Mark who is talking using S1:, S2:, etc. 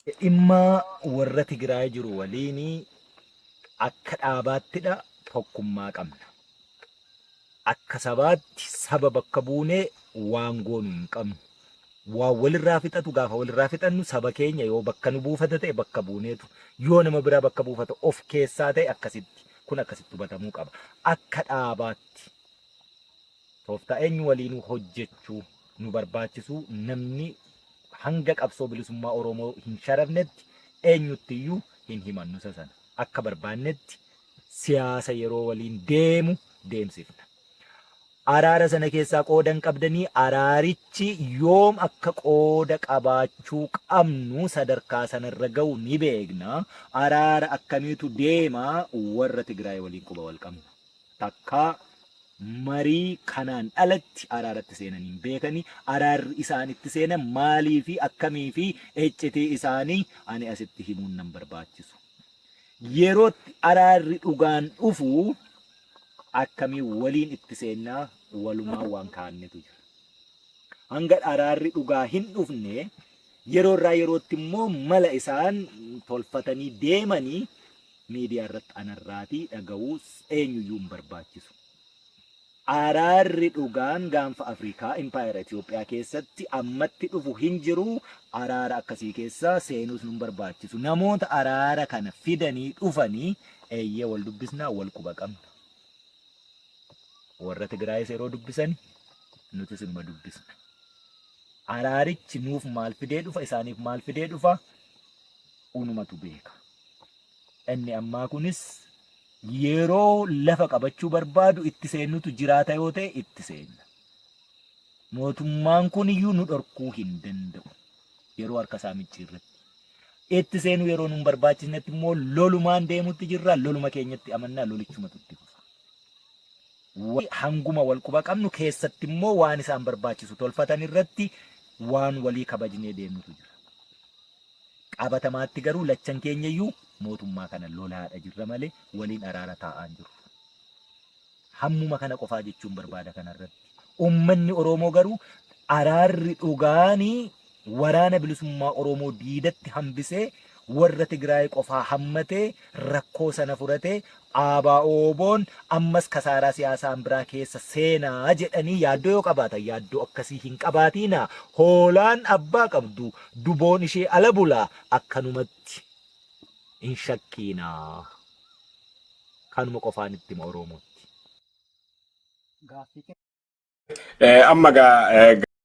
S1: Dhimma warra Tigraay jiru waliin akka dhaabaattidha tokkummaa qabna. Akka sabaatti saba bakka buunee waan goonu hin qabnu. Waan walirraa fixatu gaafa walirraa fixannu saba keenya yoo bakka nu buufata ta'e bakka buuneetu yoo nama biraa bakka buufata of keessaa ta'e akkasitti kun akkasitti hubatamuu qaba. Akka dhaabaatti. Tooftaa eenyu waliinuu hojjechuu nu barbaachisuu namni hanga qabsoo bilisummaa Oromoo hin sharafnetti eenyutti iyyuu hin himannu isa sana. Akka barbaannetti siyaasa yeroo waliin deemu deemsifna. Araara sana keessaa qooda hin qabdanii araarichi yoom akka qooda qabaachuu qabnu sadarkaa sana irra ga'u ni beekna. Araara akkamiitu deema warra Tigraay waliin quba wal qabna. Takkaa marii kanaan alatti araaratti seenanii hin beekani. Araarri isaan itti seenan maalii fi akkamii fi eccitii isaanii ani asitti himuun nan barbaachisu. Yerootti araarri dhugaan dhufu akkamiin waliin itti seennaa walumaa waan kaa'annetu jira. Hanga araarri dhugaa hin dhufne yeroo irraa yerootti immoo mala isaan tolfatanii deemanii miidiyaa irratti anarraatii dhaga'uus eenyuyyuu hin barbaachisu. Araarri dhugaan gaanfa Afrikaa Impaayera Itoophiyaa keessatti ammatti dhufu hin jiru. Araara akkasii keessa seenuus nun barbaachisu. Namoota araara kana fidanii dhufanii eeyyee wal dubbisnaa wal quba qabna. Warra Tigraayis yeroo dubbisani nutis inuma dubbisna. Araarichi nuuf maal fidee dhufa isaaniif maal fidee dhufa unumatu beeka. Inni ammaa kunis yeroo lafa qabachuu barbaadu itti seennutu jiraata yoo ta'e itti seenna. Mootummaan kun iyyuu nu dhorkuu hin danda'u. Yeroo harka isaa micciirretti. Itti seenuu yeroo nun barbaachisnetti immoo lolumaan deemutti jirra. Loluma keenyatti amannaa lolichumatu itti fufa. Wa- Hanguma wal quba qabnu keessatti immoo waan isaan barbaachisu tolfatan irratti waan walii kabajnee deemnutu jira. Qabatamaatti garuu lachan keenyayyuu mootummaa kana lolaadha jirra malee waliin araara taa'aa hin jirru. Hammuma kana qofaa jechuun barbaada kanarratti. Ummanni Oroomoo garuu araarri dhugaani waraana bilisummaa Oroomoo diidatti hambisee warra Tigraay qofaa hammatee rakkoo sana furatee ABOn ammas kasaaraa siyaasaan biraa keessa seena jedhanii yaaddoo yoo qabaatan yaaddoo akkasii hin qabaatiinaa. Hoolaan abbaa qabdu duboon ishee ala bula akkanumatti hin shakkiinaa. Kanuma qofaan itti hima Oromootti.
S2: Amma gaa